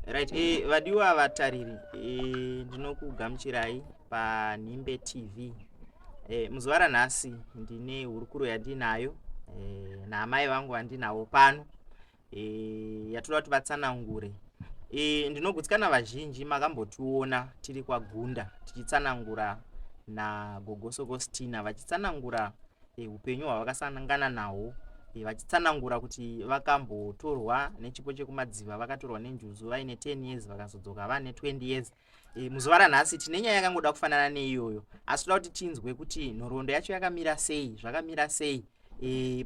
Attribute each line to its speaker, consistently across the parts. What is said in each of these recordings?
Speaker 1: right e, vadiwa vatariri eh, ndinokugamuchirai panhimbe tv e, muzuva ranhasi ndine hurukuro yandinayo e, naamai vangu vandinawo pano e, yatoda kuti vatsanangure e, ndinogutsikana vazhinji makambotiona tiri kwagunda tichitsanangura nagogo sokostina vachitsanangura eh, upenyu hwavakasangana nahwo eh, vachitsanangura kuti vakambotorwa nechipo chekumadziva vakatorwa nenjuzu vaine 10 years vakazodzoka vane 20 years eh, muzuva ranhasi tine nyaya yakangoda kufanana neiyoyo asi toda kuti tinzwe kuti nhoroondo yacho yakamira sei zvakamira sei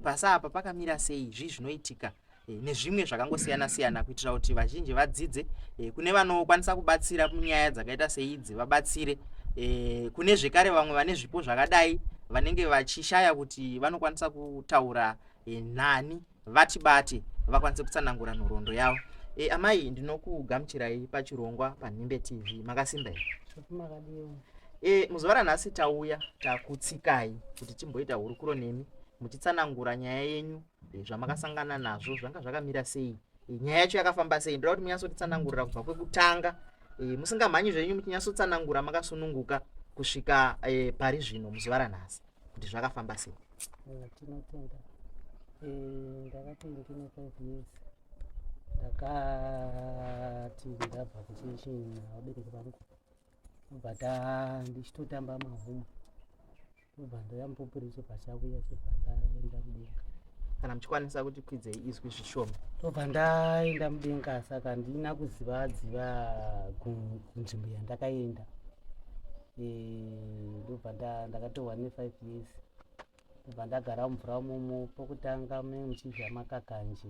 Speaker 1: pasi apa pakamira sei zvii zvinoitika eh, nezvimwe zvakangosiyana siyana kuitira kuti vazhinji vadzidze eh, kune vanokwanisa kubatsira munyaya dzakaita seidzi vabatsire eh, kune zvekare vamwe vane zvipo zvakadai vanenge vachishaya kuti vanokwanisa kutaura nani vati bati vakwanise kutsanangura nhoroondo yavo e, amai ndinokugamuchirai pachirongwa panhimbe tv makasimba here e, muzuva ranhasi tauya takutsikai kuti timboita hurukuro nemi muchitsanangura nyaya yenyu eh, zvamakasangana nazvo zvanga zvakamira sei eh, nyaya yacho yakafamba sei ndoda kuti munyatsotitsanangurira kubva kwekutanga eh, musingamhanyi zvenyu muchinyatsotsanangura makasununguka kusvika pari zvino muzuva ranhasi kuti zvakafamba sei tinotenda
Speaker 2: ndakati ndine five years ndakati ndabva kuchechina vabereki vangu ndobva ta ndichitotamba mahuma ndobva ndoyamupupuri chepachakuya chobva ndaenda mudenga kana muchikwanisa
Speaker 1: kuti kwidzei izwi zvishoma ndobva ndaenda
Speaker 2: mudenga saka handina kuziva dziva ku- kunzvimbo yandakaenda Eh, ndobva nda- ndakatohwa nefive years ndobva ndagara mumvura mumo pokutanga me muchidya makakanje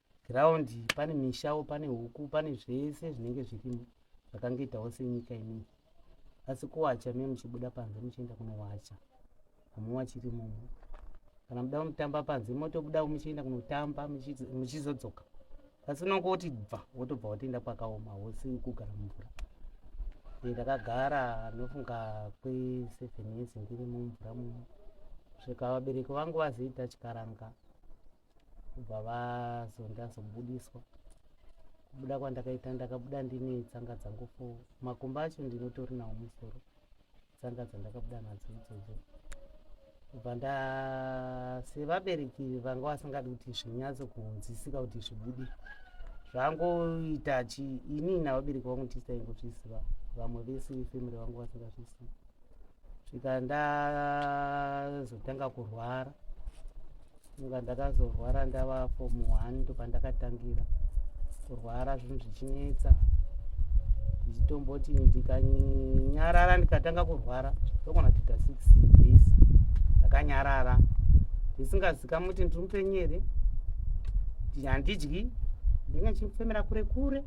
Speaker 2: ground pane mishawo pane huku pane zvese zvinenge zvirimo zvakangoitawo senyika imii asi kuwacha me muchibuda panze muchienda kunowacha hamuwachiri mumu kana muda kunotamba panze motobuda muchienda kunotamba muchizodzoka asi unonge woti bva wotobva wotoenda kwakaoma hosi kugara mumvura ndakagara nofunga kweseven years ndiri mumvura mumu svika vabereki vangu vazoita chikaranga kubva vazonda zobudiswa kubuda kwandakaita ndakabuda ndine tsanga dzangu fo makumba acho ndinotori nawo musoro tsanga dzandakabuda nadzo idzodzo kubva nda sevabereki vanga vasingadi kuti zvinyatso kunzwisika kuti zvibude zvangoita chi ini navabereki vangu tisaingozviziva vamwe vese vefamily vangu vasingazvizivi svika ndazotanga kurwara saka ndakazorwara ndava form one ndopandakatangira kurwara zvinhu zvichinetsa ndichitomboti ndikanyarara ndikatanga kurwara ndokona kuita six days ndakanyarara ndisingazikamwi kuti ndiri mupenyu here handidyi ndinge ndichimufemera kure kure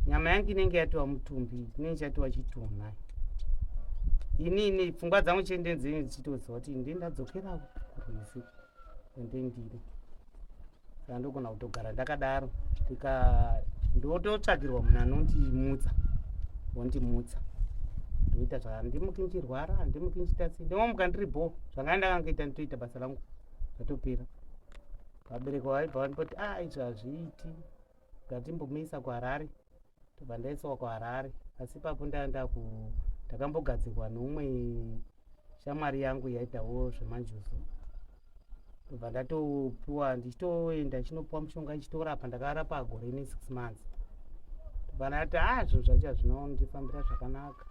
Speaker 2: nyama yangu inenge yatiwa mutumbi inenge chatiwa chitunha ini ini pfungwa dzangu chiendenzenzi nditoziva kuti ndi ndadzokera kurwizi ende ndiri saka ndogona kutogara ndakadaro ndika ndototsvagirwa munhu anondimutsa wondimutsa ndoita zvaka ndimuki ndichirwara handimuki ndichiita sei ndimomuka ndiri bho zvanga ndakangaita nditoita basa rangu zvatopera vabereki vaibva vandipoti a ah, izvi hazviiti ndatimbomisa kuharare tobva ndaiswa kuharare asi papo ndaenda ku ndakambogadzirwa neumwe shamwari yangu yaitawo zvemanjuzu tobva ndatopiwa ndichitoenda chinopiwa mushonga ichitorapa ndakarapa gore ne six months tobva ndati a ah, zvinhu zvacho hazvinondifambira zvakanaka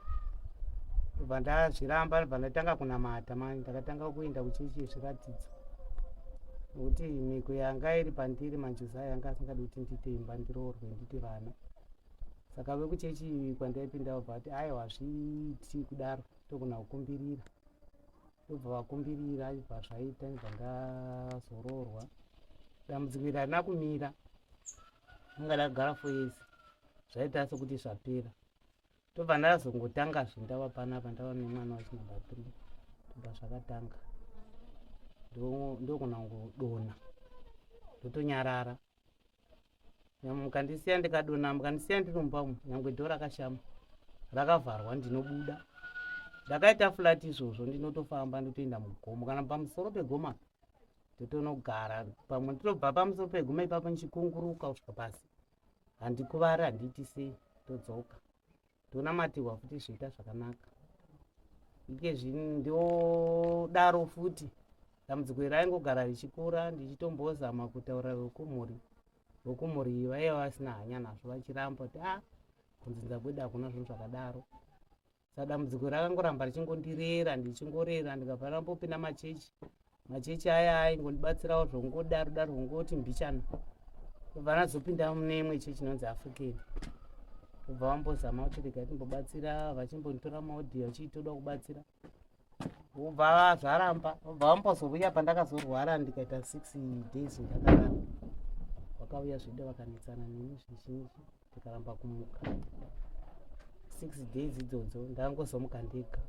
Speaker 2: tobva ndazviramba tobva ndatanga kunamata mani ndakatanga kuenda kuchechi yezviratidzo Kuti mhiko yanga iri pandiri maJosiah yanga asingadi kuti ndiite imba ndiroorwe nditi vana. Saka vekuchechi kwandaipinda vobva vati aiwa hazviiti kudaro togona kukumbirira. Vobva vakumbirira ibva zvaita ndibva ndazoroorwa. Dambudziko iri harina kumira. Anga ndakagara for years. Zvaita sekuti zvapera. ndobva ndazongotanga zve ndava panapa ndava nemwana wachinumber three ndobva zvakatanga ndokona kudona ndotonyarara nyamwe mukandisiya ndikadona mukandisiya ndirumba umu nyangwe dho rakashama rakavharwa ndinobuda ndakaita flat izvozvo ndinotofamba ndotoenda mugomo kana pamusoro pegoma ndotonogara pamwe ndinobva pamusoro pegoma ipapo ndichikunguruka kusvika pasi handikuvara handiiti sei todzoka ndonamatirwa futi zvoita zvakanaka ike zvino ndodaro futi dambudziko iri raingogara richikura ndichitombozama kutaura vekumhuri vekumhuri iyi vaiva vasina hanya nazvo vachiramba kuti a ah, kunzinza kwedu hakuna zvinhu zvakadaro saka dambudziko rakangoramba richingondirera ndichingorera ndikabvara mbopinda machechi machechi aya aingondibatsirawo zvongodaro daro zvongoti mbichana kubva nazopinda mune imwe chechi inonzi african kubva vambozama kuti rega timbobatsira vachimbonditora maodhiyo vachitoda kubatsira ubva zvaramba ubva vambozouya pandakazorwara ndikaita six days ndakarara vakauya zvedu vakanetsana neni zvizhinji ndikaramba kumuka six days idzodzo ndangozomuka ndega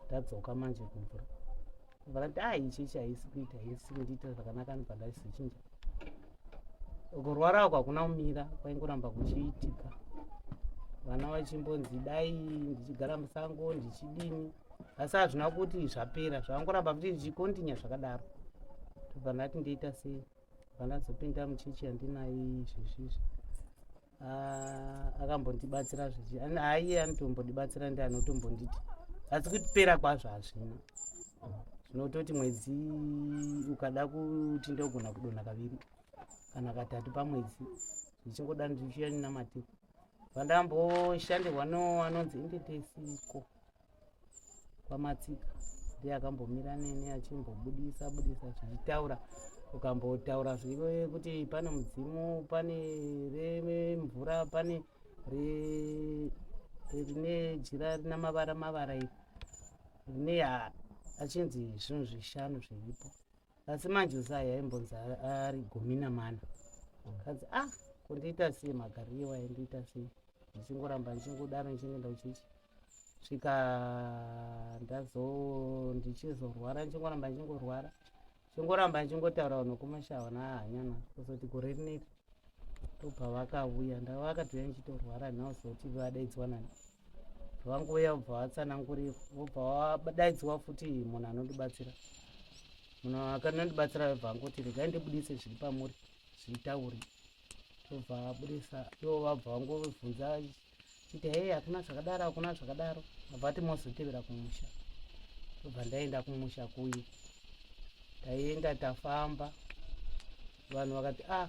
Speaker 2: ndadzoka manje kumvura varati a ichi ichi haisi kuita haisi kundiitira zvakanaka ani pandaizochinchaa kurwara ako hakuna kumira kwaingoramba kuchiitika vana vachimbonzi dai ndichigara musango ndichidini asi hazvina kuti zvapera zvavangoramba kuti zvichikontinya zvakadaro tobva ndati ndoita sei bva ndazopinda muchechi yandinayo izvezvizvi Ah, akambondibatsira zvezvi aiye anotombondibatsira ndi anotombonditi asi kutipera kwazvo hazvina zvinototi mwedzi ukada kuti ndogona kudona kaviri kana katatu pamwedzi zvichingoda ndichiya ndinamatiko vandamboshandirwa no anonzi endetesiko kwamatsika ndiye akambomira neni achimbobudisa budisa zvichitaura ukambotaura zvivo kuti pane mudzimu pane remvura pane rine jira rina mavara mavara iri rine achinzi zvinhu zvishanu zviripo asi manje usai aimbonzi ari gumi namana kanzi ah kundiita sei magariro waindiita sei ndichingoramba ndichingodaro ndichingoenda kuchichi kusvika ndazo ndichizorwara ndichingoramba ndichingorwara ndichingoramba ndichingotaura vanhu kumashawa nahanyana kuzoti gore rineri ndobva vakauya ndava vakatouya ndichitorwara nhau zoti vadaidzwa nani vangouya vobva vatsanangurira vobva vadaidzwa futi munhu anondibatsira munhu akanondibatsira vobva vangoti regai ndibudise zviri pamuri zvitauri tobva abudisa ivo vabva vangovhunza kuti hei hakuna zvakadaro hakuna zvakadaro abva ati mozotevera kumusha obva ndaenda kumusha kuye taienda tafamba vanhu vakati ah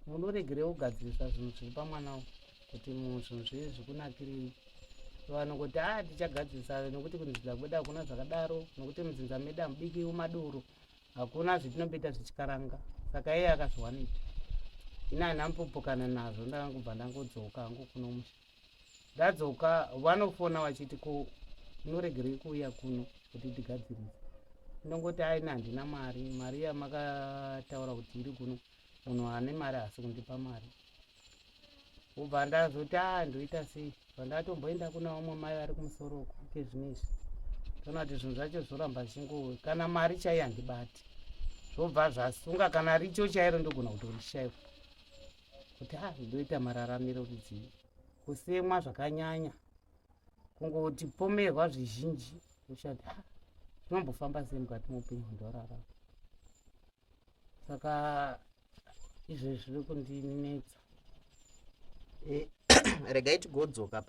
Speaker 2: munoregerei kugadzirisa zvinhu zviri pamwana wo kuti zvinhu zvii zvikunakirii vanhu kuti ah tichagadzirisa nekuti kunzidza kwedu hakuna zvakadaro nekuti mudzinza medu hamubiki madoro hakuna zvetinobeta zvechikaranga saka iye akazviwanita ini hana mpopokana nazvo ndakangobva ndangodzoka hangu kuno musha ndadzoka vanofona vachiti ko unoregerei kuuya kuno kuti tigadzirisa ndongoti aina handina mari mari yamakataura kuti iri kuno munhu ane mari haasi kundipa mari kubva ndazoti a ndoita sei bva ndatomboenda kuna vamwe mai vari kumusoro uku kezvino izvi toona kuti zvinhu zvacho zvoramba zvichingo kana mari chaiyo handibati zvobva zvasunga kana richo chairo ndogona kutorishaiwa kuti a ndoita mararamiro rudzii kusemwa zvakanyanya kungoti pomerwa zvizhinji ushati a tinombofamba sei mukati moupenyu ndorarama saka izvo zviri kundinetsa eh,
Speaker 1: regai tigodzoka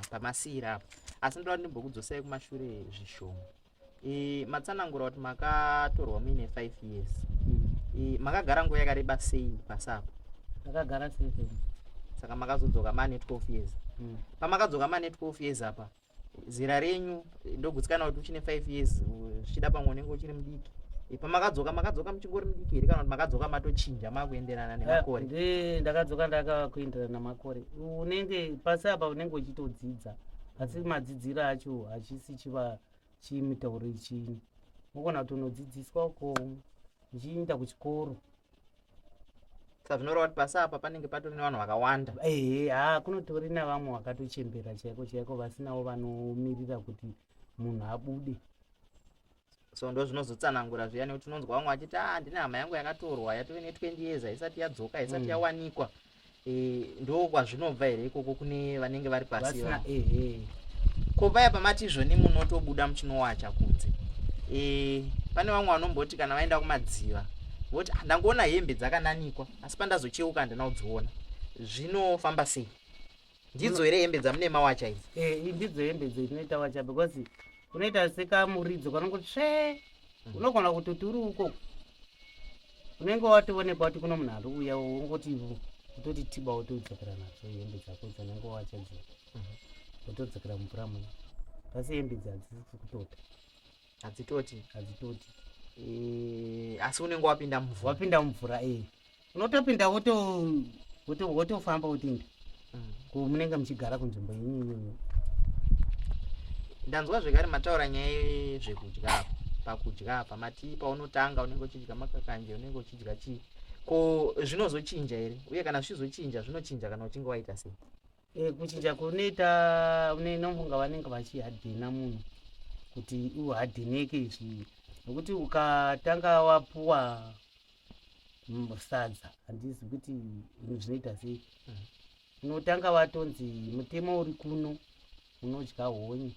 Speaker 1: pamasiira apo asi ndoda ndimbokudzosai kumashure zvishoma eh, matsanangura kuti makatorwa muine five years eh, makagara nguva yakareba sei pasi apo ndakagara
Speaker 2: seven saka
Speaker 1: makazodzoka mane twelve years hmm. pamakadzoka mane twelve years apa zera renyu ndogutsikana kuti uchine five years zvichida pamwe unenge uchiri mudiki ipa makadzoka makadzoka muchingori mudiki here kana kuti makadzoka matochinja makuenderana eh, nemakore ndi ndakadzoka ndakakuenderana
Speaker 2: namakore unenge pasi apa unenge uchitodzidza asi madzidziro acho hachisi chiva chimitauro ichini unogona kuti unodzidziswa uko uchiinda kuchikoro
Speaker 1: saka zvinoreva kuti pasi apa panenge patori nevanhu vakawanda ehe haa kunotori
Speaker 2: navamwe vakatochembera chaiko chaiko vasinawo vanomirira kuti munhu abude so
Speaker 1: ndo zvinozotsanangura zviya nekuti unonzwa vamwe vachiti a ah, ndine hama yangu yakatorwa yatove ne 20 years haisati yadzoka haisati mm. yawanikwa mm. Eh, ndo kwazvinobva here ikoko kune vanenge vari pasi ko paya pamati izvoni munotobuda muchinowacha kunze eh, pane vamwe vanomboti kana vaenda kumadziva voti ah, ndangoona hembe dzakananikwa asi pandazocheuka handina kudziona zvinofamba sei ndidzo here hembe dzamune mawacha idzi eh, ndidzo hembe dzo inoita
Speaker 2: wacha because unoita sekamuridzo kanongoti tsve mm. unogona kutoti uri uko unenge watovonekwa kuti kuno munhu ari uya wongoti utoti tiba wotodzokera nadzo hembe dzako dzanenge wacha dzo wotodzokera mm-hmm. mumvura muno asi hembe dzi hadzisi kutota hadzitoti
Speaker 1: hadzitoti
Speaker 2: eh, asi unenge wapinda mumvura
Speaker 1: wapinda mumvura e
Speaker 2: eh. unotopinda wotofamba wotinda mm. ko munenge muchigara kunzvimbo inini
Speaker 1: ndanzwa zvekare mataura nyaya yezvekudya apo pakudya apa mati paunotanga unenge uchidya makakanje unenge uchidya chii ko zvinozochinja here uye kana zvichizochinja zvinochinja kana uchinge waita sei E, kuchinja
Speaker 2: kunoita unofunga vanenge vachihadhina munhu kuti uhadhineke izvi nokuti ukatanga wapuwa sadza handizi kuti zvinhu zvinoita sei mm. unotanga watonzi mutemo uri kuno unodya honye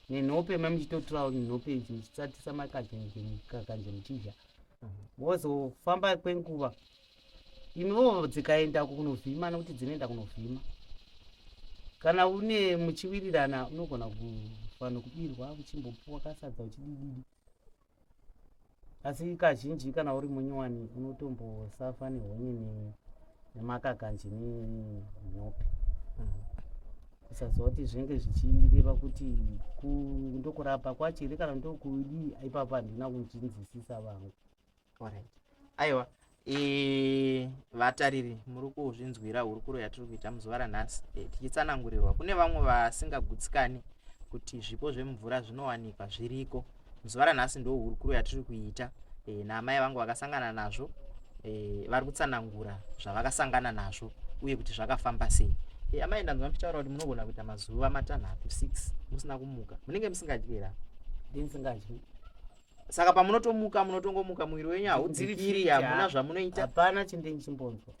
Speaker 2: nenhope mamuchitotura nhope ichi muchitsatisa makanje muchidya mm. wozofamba kwenguva imiwo dzikaenda kunovhima nokuti dzinoenda kunovhima kana une muchiwirirana unogona kufanira kubirwa uchimbopuwa kasadza uchidididi asi kazhinji kana uri munyowani unotombosafa nehonye nemakakanji nenhope kusaziva kuti zvinenge zvichireva kuti ndokurapa kwacho here kana ndokudii ipapa handina kunzvinzisisa vangu Alright.
Speaker 1: Aiwa, e, vatariri muri kuzvinzwira hurukuro yatiri kuita muzuva ranhasi e, tichitsanangurirwa kune vamwe vasingagutsikani kuti zvipo zvemvura zvinowanikwa zviriko muzuva ranhasi ndo hurukuro yatiri kuita e, naamai vangu vakasangana nazvo e, vari kutsanangura zvavakasangana nazvo uye kuti zvakafamba sei e, amai ndanzwa muchitaura kuti munogona kuita mazuva matanhatu six musina kumuka munenge musingadyera ndinsingadyi saka pamunotomuka munotongomuka muviri wenyu haudziviri hamuna zvamunoita hapana chindini
Speaker 2: chimbonzwa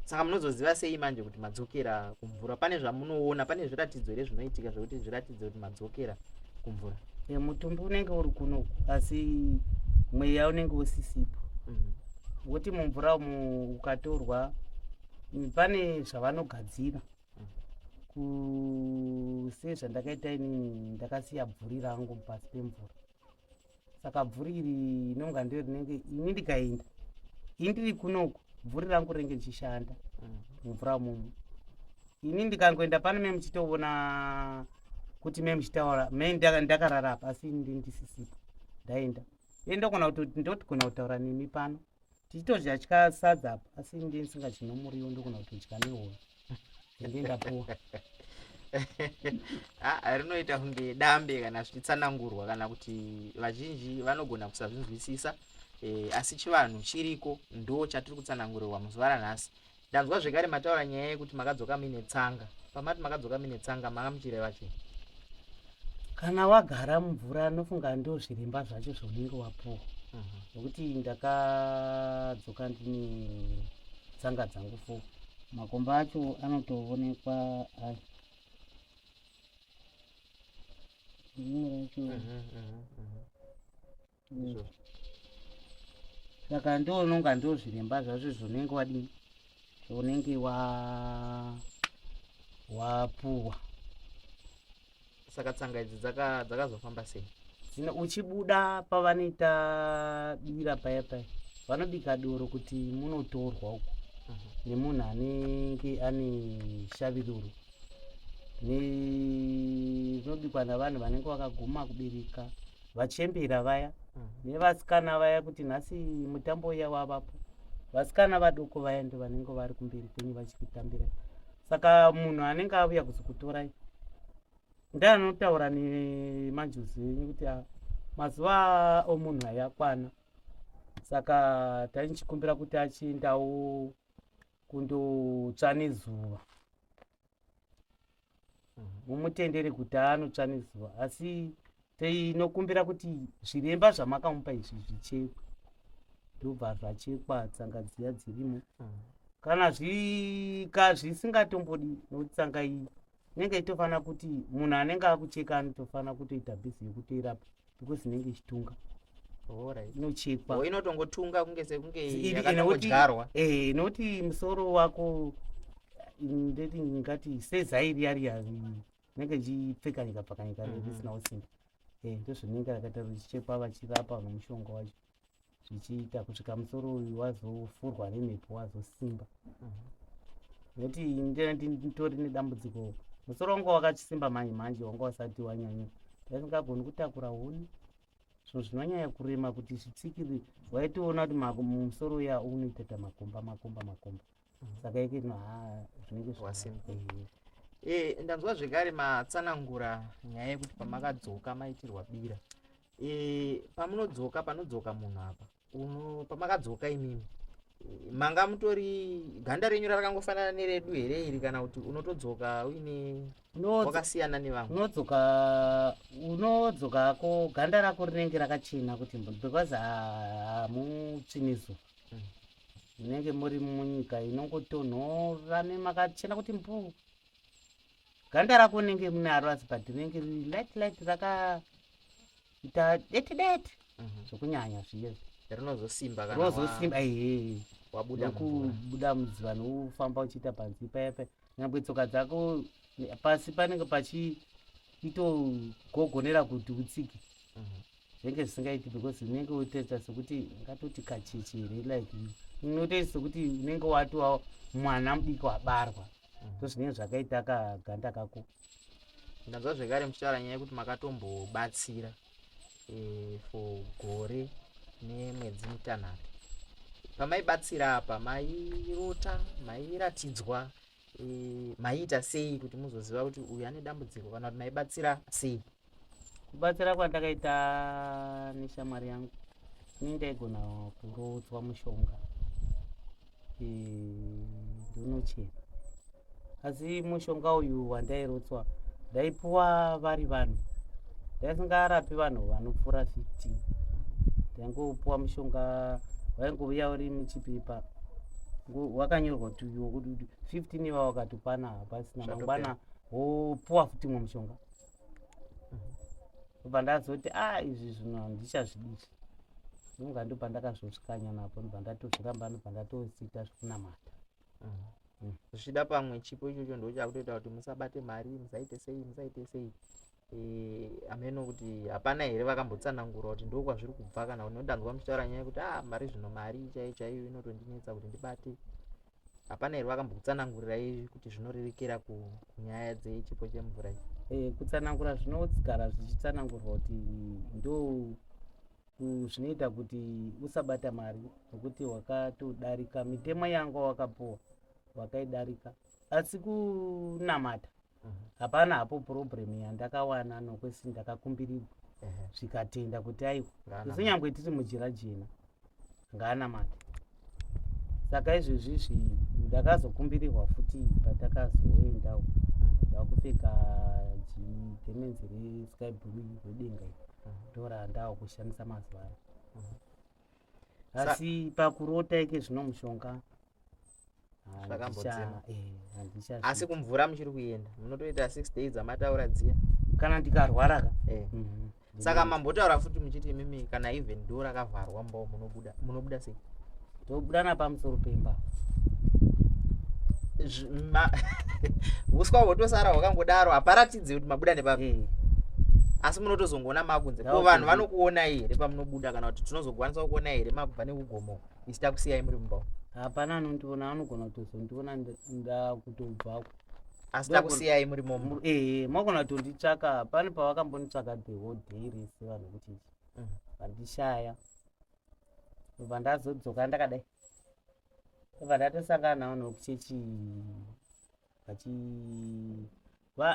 Speaker 1: saka munozoziva sei manje kuti madzokera kumvura pane zvamunoona pane zviratidzo here zvinoitika zvekuti zviratidze kuti madzokera kumvura mutumbi
Speaker 2: unenge uri kunoku asi mweya unenge usisipo mhm. woti mumvura umu ukatorwa pane zvavanogadzira kusezva ndakaita ini ndakasiya bvuri rangu pasi pemvura saka bvuri iri inonga ndo rinenge ini ndikaenda ini ndiri kunoku bvuri rangu renge richishanda mm. mumvura mumu ini ndikangoenda pano me muchitoona kuti me muchitaura me ndakarara apa asi ndi ndisisipo ndaenda e ndokona kuti ndotigona kutaura nemi pano tichitodya tya sadza apo asi ndi ndisingachino muriwo ndokona kutodya nehoro ende ndapuwa
Speaker 1: ah, rinoita kunge dambe kana zvichitsanangurwa kana kuti vazhinji vanogona kusazvinzwisisa e, asi chivanhu chiriko ndo chatiri kutsanangurirwa muzuva ranhasi Ndanzwa zvekare mataura nyaya yekuti makadzoka muine tsanga. Pamati makadzoka muine tsanga manga muchireva chii?
Speaker 2: Kana wagara mumvura anofunga ndo zviremba zvacho zvaunenge wapuwa. Mhm. Nokuti ndakadzoka ndine tsanga dzangu fo. Makomba acho anotoonekwa ayo. Rimwe racho Mhm, mhm, mhm. mm. saka ndononga ndozviremba zvazvo zvonenge wadini zvonenge wa wapuwa
Speaker 1: saka tsanga idzi dzakazofamba sei dzino uchibuda
Speaker 2: pavanoita bira paya paya vanobika doro kuti munotorwa uko mhm. nemunhu anenge ane shaviruro zvinobikwa navanhu vanenge vakaguma kubereka vachembera vaya mm. nevasikana vaya kuti nhasi mutambo uya wavapo vasikana vadoko vaya ndo vanenge vari kumberi kwenyu vachikutambira saka munhu anenge avuya kuzokutorai ndi anotaura nemanjuzi enyu kuti ah, mazuva omunhu ayakwana saka taichikumbira kuti achiendawo kundotsva nezuva mumutendere kuti anotsva nezuva asi tinokumbira kuti zviremba zvamakamupa izvi zvichekwe ndobva zvachekwa tsanga dziya dzirimo mm. kana zvika zvisingatombodi nokuti tsanga iyi inenge itofanira kuti munhu anenge akucheka anotofanira kutoita bhizi yekutoirapa because inenge ichitunga inochekwa oh, inotongotunga
Speaker 1: kunge sekunge yakatongodyarwa eh, inoti
Speaker 2: musoro wako ndeti ngati sezai riya riya inenge ichipfekanyika pfakanyika mhm. risinawo simba eh, ndozvinenge rakaita richichekwa vachirapa vanomushonga wacho zvichiita kusvika musoro uyu wazofurwa nemhepo wazosimba nekuti nditori nedambudziko musoro wanga wakachisimba manje manje wanga wasati wanyanya ndasingagoni kutakura huni so zvinonyanya kurema kuti zvitsikiri waitoona kuti musoro uya unoita ta makomba makomba makomba, makomba. saka ike no ha zvinenge zvasimple eh
Speaker 1: ndanzwa zvekare matsanangura nyaya yekuti pamakadzoka maitirwa bira eh pamunodzoka panodzoka munhu apa uno pamakadzoka imimi manga mutori ganda renyu rakangofanana neredu here iri kana kuti unotodzoka uine wakasiyana nevamwe unodzoka unodzokako
Speaker 2: ganda rako rinenge rakachena kuti because hamutsvinizo munenge muri munyika inongotonhora nemakachena kuti mbuu ganda rako unenge munaro asi but rinenge riri light light rakaita deti deti mhm. zvokunyanya zviye rinozosimba
Speaker 1: rinozosimba ee
Speaker 2: wabudakubuda mudziva noufamba uchiita panzi paipa nyangwe tsoka dzako pasi panenge pachiitogogonera kuti utsike mhm. zvinenge zvisingaiti because unenge utoita sekuti ungatoti kacheche here like unotoita sekuti unenge watova mwana mudiki wabarwa mm. so zvinenge zvakaita kaganda kako ndanzwa
Speaker 1: zvekare muchitaura nyaya yekuti makatombobatsira eh, for gore nemwedzi mitanhatu pamaibatsira apa mairota mairatidzwa e, maiita sei kuti muzoziva kuti uyu ane dambudziko kana kuti maibatsira sei kubatsira
Speaker 2: kwandakaita neshamwari yangu ini ndaigona kuroodzwa mushonga e, ndonochera asi mushonga uyu wandairotswa ndaipuwa vari vanhu yaisingarapi vanhu vanopfuura 15 taingopuwa mushonga waingovuya uri muchipepa wakanyorwa kuti uyo kuti 15 iva wakatopana hapasina mangwana wopuwa futi mwe mushonga kubva ndazoti a ah, izvi zvinhu handichazvidii ndonga ndobva ndakazvosvikanya napo ndobva ndatozviramba ndobva ndatosiita zvekunamata
Speaker 1: zvichida pamwe chipo ichocho ndo chakutoita kuti musabate mari musaite sei musaite sei eh, ameno kuti hapana here vakambotsanangura kuti ndo kwazviri kubva kana kuti ndanzwa muchitaura nyaya yekuti a ah, mari zvino mari chaiyo chaiyo inotondinetsa kuti ndibate hapana here vakambokutsanangurira izvi kuti zvinorerekera kunyaya dzechipo chemvura iyi eh, kutsanangura zvinogara
Speaker 2: zvichitsanangurwa kuti ndo zvinoita kuti usabata mari nokuti wakatodarika mitemo yanga wakapuwa wakaidarika asi kunamata mhm. hapana hapo problem yandakawana nokwesi ndakakumbirirwa zvikatenda kuti aiwa zvinyangwe tiri mujira jena ngaanamate saka izvezvi zvi ndakazokumbirirwa futi patakazoendawo ndakupfeka jigemenzi resky blue redenga ndora ndawo kushandisa mazuva ano asi pakurota ike zvino mushonga zvakambodzima
Speaker 1: asi kumvura muchiri kuenda munotoita six days dzamataura dziya kana ndikarwara
Speaker 2: ka eh. mhm. saka
Speaker 1: mambotaura futi muchiti imimi kana even do rakavharwa mbo munobuda munobuda sei tobuda
Speaker 2: napamusoro pemba
Speaker 1: uswa hwotosara hwakangodaro haparatidze kuti mabuda nepapi eh. asi munotozongoona makunze ko vanhu vanokuona here pamunobuda kana kuti tinozokwanisa kukuona here makubva nekugomoka isi takusiyai muri mumba hapana anondiona
Speaker 2: anogona kutozondiona ndakutobvako asi
Speaker 1: takusiyai muri momo ee magona kutonditsvaka
Speaker 2: pane pavakambonitsvaka the whole day rese vanhu kuti mm. vandishaya obva ndazodzoka ndakadai obva ndatosangana nawo nokuchechi vachi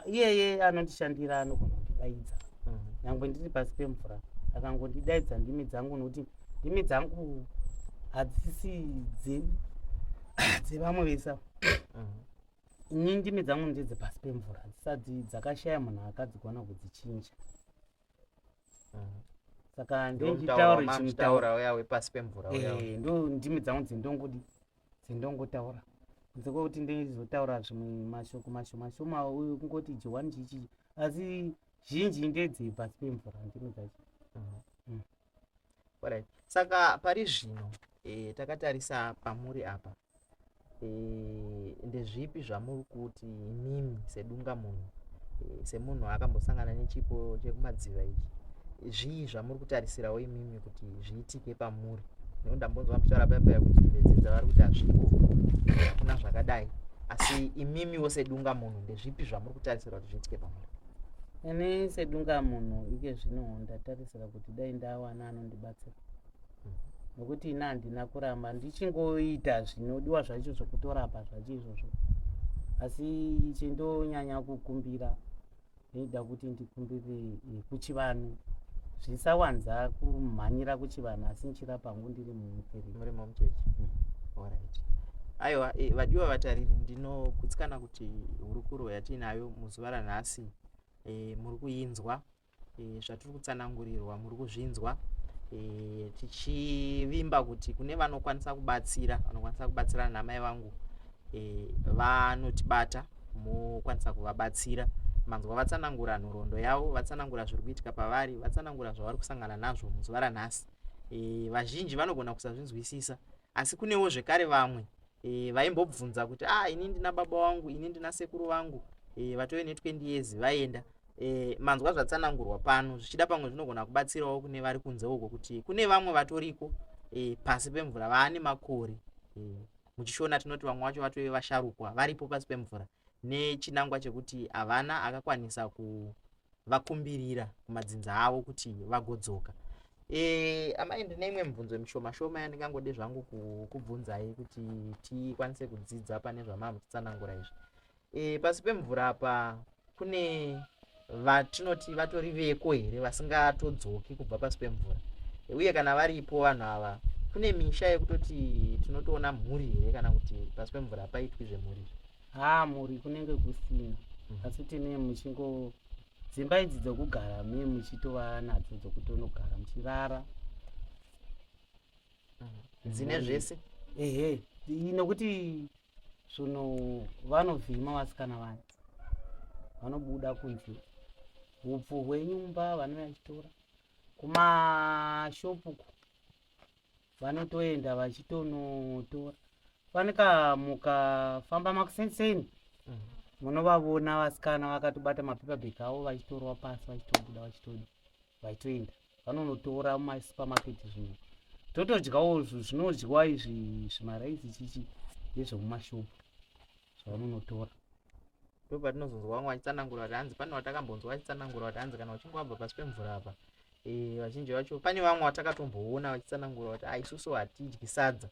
Speaker 2: iyeye anondishandira anogona kundidaidza mhm. nyangwe ndiri pasi pemvura akangondidaidza ndimi dzangu nokuti ndimi dzangu hadzisi dzevamwe vesa mhm. ini ndimi dzangu ndedze pasi pemvura dzisati dzakashaya munhu akadzigona kudzichinja mhm. saka ndonditaura
Speaker 1: chimutaura
Speaker 2: uya
Speaker 1: wepasi pemvura uya eh, ndo ndimi dzangu
Speaker 2: dzindongodi sendongotaura kunze kwekuti ndizotaura zvimwe mashoko mashomashoma uyu kungoti johani chichi asi zhinji ndedzei pasi pemvura ndimi dzacho mhm. mm.
Speaker 1: right saka pari zvino e, takatarisa pamuri apa e, ndezvipi zvamuri kuti imimi sedunga munhu e, semunhu akambosangana nechipo chekumadziva ichi zvii zvamuri kutarisirawo imimi kuti zviitike pamuri no ndambonzwa muchitaura baba yakuti bedzi dzavari kuti hazviko kuna zvakadai asi imimiwo sedunga munhu ndezvipi zvamuri kutarisira kuti zviitike pamuri ini
Speaker 2: sedunga munhu ike zvino ndatarisira kuti dai ndawana anondibatsira hmm. nokuti ini handina kuramba ndichingoita zvinodiwa zvacho zvokutorapa zvacho izvozvo asi chindonyanya kukumbira Ndaida kuti ndikumbire eh, kuchivanhu zvisawanza kumhanyira kuchivanhu asi ndichira pangu ndiri mumuperi muri momuchechi mm.
Speaker 1: orit aiwa eh, vadiwa vatariri ndinogutsikana kuti hurukuro yatiinayo muzuva ranhasi eh, muri kuinzwa zvatiri kutsanangurirwa muri kuzvinzwa tichivimba kuti kune vanokwanisa kubatsira vanokwanisa kubatsirana namai vangu vanotibata mokwanisa kuvabatsira manzwa vatsanangura nhoroondo yavo vatsanangura zviri kuitika pavari vatsanangura zvavari kusangana nazvo muzuva ranhasi e, vazhinji vanogona kusazvinzwisisa asi kunewo zvekare vamwe e, vaimbobvunza kuti ah ini ndina baba wangu ini ndina sekuru vangu e, vatove ne20 years vaenda e, manzwa zvatsanangurwa pano zvichida pamwe zvinogona kubatsirawo kune vari kunze uko kuti kune vamwe vatoriko e, pasi pemvura vaane makore e. muchishona tinoti vamwe vacho vatove vasharukwa varipo pasi pemvura nechinangwa chekuti havana akakwanisa kuvakumbirira kumadzinza avo kuti vagodzoka e, amai ndine imwe mibvunzo mishoma shoma yandingangode zvangu kubvunzai kuti tikwanise kudzidza pane zvamava muchitsanangura izvi e, pasi pemvura apa kune vatinoti vatori veko here vasingatodzoki kubva pasi pemvura uye kana varipo vanhu ava kune misha yekutoti tinotoona mhuri here kana kuti pasi pemvura hapaitwi zvemhuri ha mhuri
Speaker 2: kunenge kusina mhm. asi tine muchingo dzimba idzi dzokugara me muchitova nadzo dzokutonogara muchirara
Speaker 1: mhm. dzine zvese ehe nokuti
Speaker 2: Zvino vanovhima vasikana vaya vanobuda kunze, hupfu hwenyu mumba vanouya vachitora kumashopu uko vanotoenda vachitonotora panekamuka famba makusenseni mm. munovavona vasikana vakatobata mapepa bheki avo vachitorwa pasi vachitobuda vachitoda vachitoenda vanonotora mumasupermarket zvino totodyawo zvinodyiwa izvi zvimaraisi chichi ndezvemumashopu zvavanonotora
Speaker 1: ndo patinozonzwa vamwe vachitsanangura kuti hanzi pane vatakambonzwa vachitsanangura kuti hanzi kana uchinge wabva pasi pemvura apa eh, vazhinji vacho pane vamwe vatakatomboona vachitsanangura kuti aisusu ah, hatidyi sadza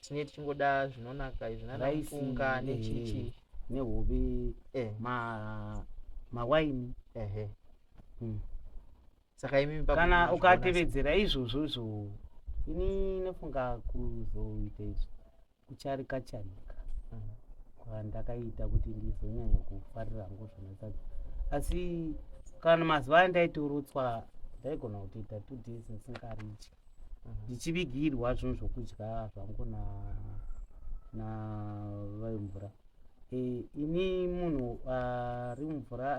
Speaker 1: tine tichingoda zvinonaka izvi nanafunga nechichi eh, nehobe
Speaker 2: eh. mawaini hmm.
Speaker 1: saka imi kana ukatevedzera
Speaker 2: izvozvo zvo ini inofunga kuzoita izvo kucharika charika mm. kwandakaita kuti ndizonyanya kufarira hangu zvinosaza asi kana mazuva aya ndaitorotswa ndaigona kutoita two days ndisingaridyi mm. ndichivigirwa zvinhu zvokudya zvangu na na vaimvura Eh, ini munhu ari mumvura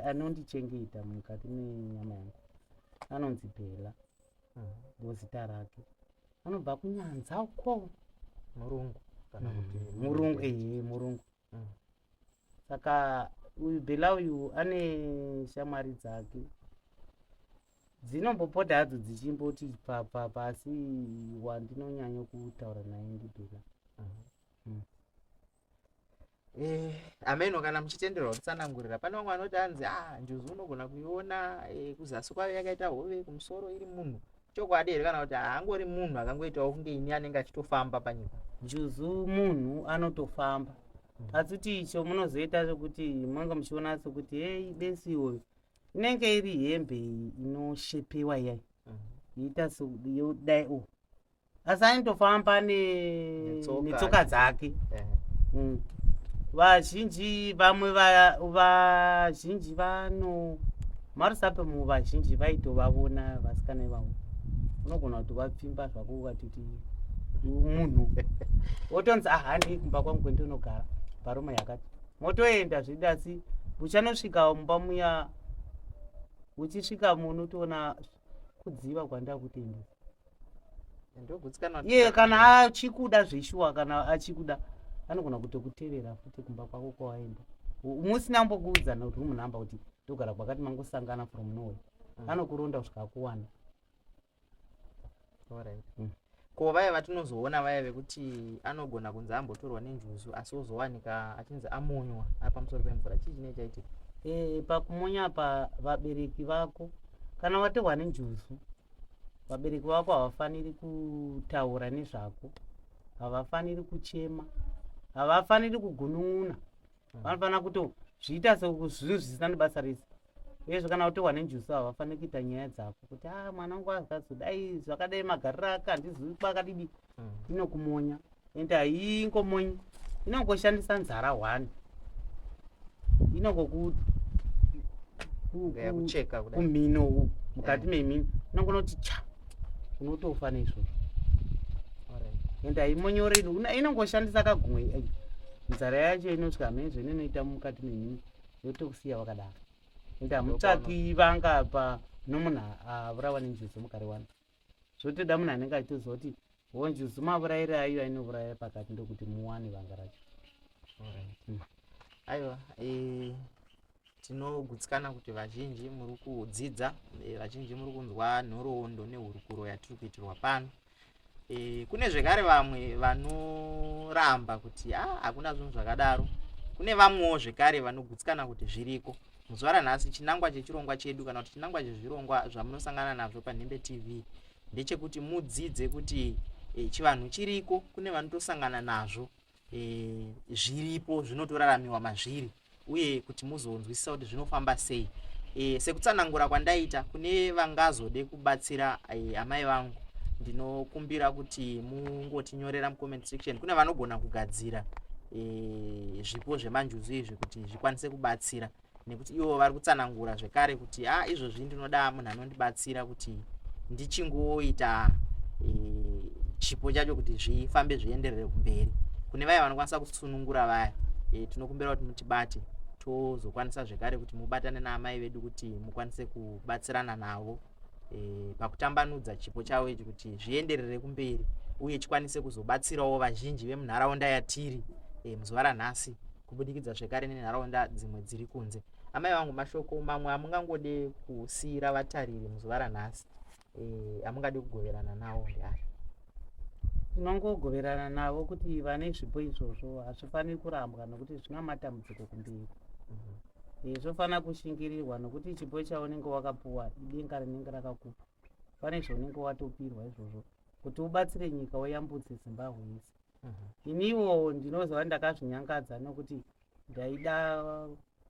Speaker 2: anondichengeta mukati menyama yangu anonzi bhela mm. ndozita rake anobva kunyanza uko murungu
Speaker 1: kana mm. kuti murungu ehe murungu
Speaker 2: mm. saka uyu bhela uyu ane shamwari dzake dzinombopota hadzo dzichimboti pasi wandinonyanya kutaura naye ndibhela uh -huh.
Speaker 1: hmm. eh, ameno kana muchitenderwa kutsanangurira pane vamwe vanoti anzi ah njuzu unogona kuiona eh, kuzasi kwave yakaita hove kumusoro iri munhu chokwadi here kana kuti haangori munhu akangoitawo kunge ini anenge achitofamba panyika njuzu munhu
Speaker 2: anotofamba hmm. asi kuti icho munozoita zvekuti manga muchiona sekuti hei besi iwoyo inenge iri hembe inoshepiwa iyai mm-hmm. yoita sodai o oh, asi ainitofamba netsoka dzake mm. vazhinji vamwe vazhinji vano marusape mu vazhinji vaitovavona vasikana ivavo unogona kuti vapfimba zvako ukatiti munhu wotonzi ahandi ah, kumba kwangu kwendinogara bharuma yakati motoenda zvidi asi uchanosvika mumba muya uchisvika munotoona kudziva kwandakuti iye kana achikuda zveshuwa kana achikuda anogona kutokutevera futi kumba kwako kwawaenda musina mbokuudzana kuti rumunhamba kuti ndogara kwakati mangosangana from nowe mm. anokuronda kusvika akuwana mm.
Speaker 1: ko vaya vatinozoona vaya vekuti anogona kunzi ambotorwa nenjuzu asi ozowanika achinzi amonywa apamusoro pemvura chii chinee chaitika eh, pakumonya
Speaker 2: pa vabereki vako kana watorwa nenjuzu vabereki vako havafaniri kutaura nezvako havafaniri kuchema havafaniri kugunun'una mm. vanofanira kuto zviita sezvinhu zvisina nebasa rese uyezve kana utohwa nenjusu havafaniri kuita nyaya dzako kuti a ah, mwana wangu azikazodai zvakadai magariro ake handizivi kwakadidi inokumonya ende haingomonyi inongoshandisa nzara hwani inongokucheka kumhino mukati eh. memhino inongonoti cha unotofa neizvozvo ende haimonyoreni inongoshandisa kagumwe eh, nzara yacho inoti kamezvo inonoita mukati memhino yotokusiya wakadaro ende hamutsvaki vanga pa nomunhu avurawa nenjuzi mukariwana zvotoda munhu anenge achitoziva kuti honji zuma vurayire ayo ainovuraya pakati ndokuti muwane vanga racho mm.
Speaker 1: aiwa eh, tinogutsikana kuti vazhinji muri kudzidza eh, vazhinji muri kunzwa nhoroondo nehurukuro yatiri kuitirwa pano eh, kune zvekare vamwe vanoramba kuti ah, hakuna zvinhu zvakadaro kune vamwewo zvekare vanogutsikana kuti zviriko muzuva ranhasi chinangwa chechirongwa chedu kana kuti chinangwa chezvirongwa zvamunosangana nazvo panhembe tv ndechekuti mudzidze kuti e, chivanhu chiriko kune vanotosangana nazvo e, zviripo zvinotoraramiwa mazviri uye kuti muzonzwisisa kuti zvinofamba sei e, sekutsanangura kwandaita kune vangazode kubatsira e, amai vangu ndinokumbira kuti mungotinyorera mucomment section kune vanogona kugadzira e, zvipo zvemanjuzu izvi kuti tikwanise kubatsira nekuti ivo vari kutsanangura zvekare kuti ha ah, izvozvi ndinoda munhu anondibatsira kuti ndichingoita e, chipo chacho kuti zvifambe zvienderere kumberi kune vaya vanokwanisa kusunungura vaya e, tinokumbira kuti mutibate tozokwanisa zvekare kuti mubatane naamai vedu kuti mukwanise kubatsirana navo e, pakutambanudza chipo chavo ichi kuti zvienderere kumberi uye chikwanise kuzobatsirawo vazhinji vemunharaunda yatiri e, muzuva ranhasi kubudikidza zvekare nenharaunda dzimwe dziri kunze amai vangu mashoko mamwe amungangode kusiira vatariri muzuva ranhasi e, amungade kugoverana nawo ndeari tinongogoverana
Speaker 2: navo kuti vane zvipo izvozvo hazvifaniri kurambwa nokuti zvina matambudziko kumberi mhm. eh, zvofanira kushingirirwa nokuti chipo chaunenge wakapuwa idenga rinenge rakakupa pane zvaunenge watopirwa izvozvo kuti ubatsire nyika uyambudze zimbabwe yese mhm. iniwo ndinozova ndakazvinyangadza nokuti ndaida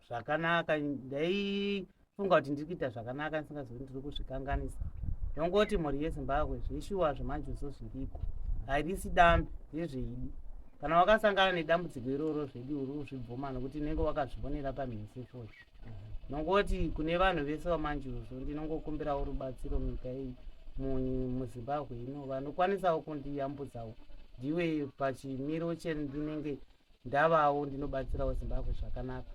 Speaker 2: zvakanaka ndaifunga kuti ndiri kuita zvakanaka ndisingazivi ndiri kuzvikanganisa ndongoti mhuri yezimbabwe zveshuwa zvemanjuso zviriko harisi dambi ndezveidi kana wakasangana nedambudziko iroro zvedi uri kuzvibvuma nokuti unenge wakazvionera pamhese chose ndongoti kune vanhu vese vamanjuso ndinongokumbirawo rubatsiro munyika iyi muzimbabwe ino vanokwanisawo kundiyambudzawo ndiwe pachimiro chendinenge ndavawo ndinobatsirawo zimbabwe zvakanaka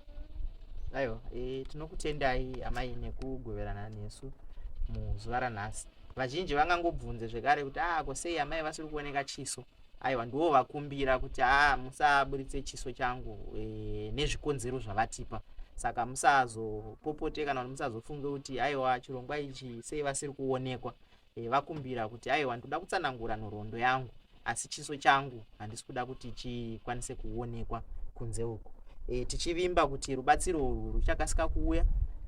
Speaker 2: aiwa
Speaker 1: e, tinokutendai amai nekugoverana nesu muzuva ranhasi vazhinji vangangobvunze zvekare kuti a ah, ko sei amai vasiri kuoneka chiso aiwa ndiwo vakumbira kuti a ah, musaburitse chiso changu e, nezvikonzero zvavatipa saka musazopopote kana kuti musazofunge kuti aiwa chirongwa ichi sei vasiri kuonekwa E, vakumbira kuti aiwa ndoda kutsanangura nhoroondo yangu asi chiso changu handisi kuda kuti chikwanise kuonekwa kunze uku e, tichivimba kuti rubatsiro urwu ruchakasika kuuya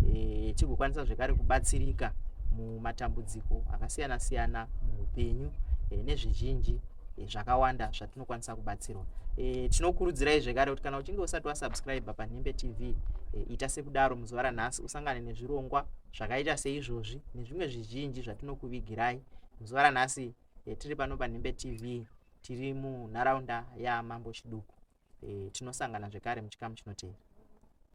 Speaker 1: e, tigokwanisa zvekare kubatsirika mumatambudziko akasiyana siyana muupenyu e, nezvizhinji e, zvakawanda zvatinokwanisa kubatsirwa e, tinokurudzirai zvekare kuti kana uchinge usati wasubscribe panhembe tv e, ita sekudaro muzuva ranhasi usangane nezvirongwa zvakaita seizvozvi nezvimwe zvizhinji zvatinokuvigirai muzuva ranhasi e, tiri pano panhimbe tv tiri munharaunda yamambo chiduku e, tinosangana zvekare muchikamu chinoteera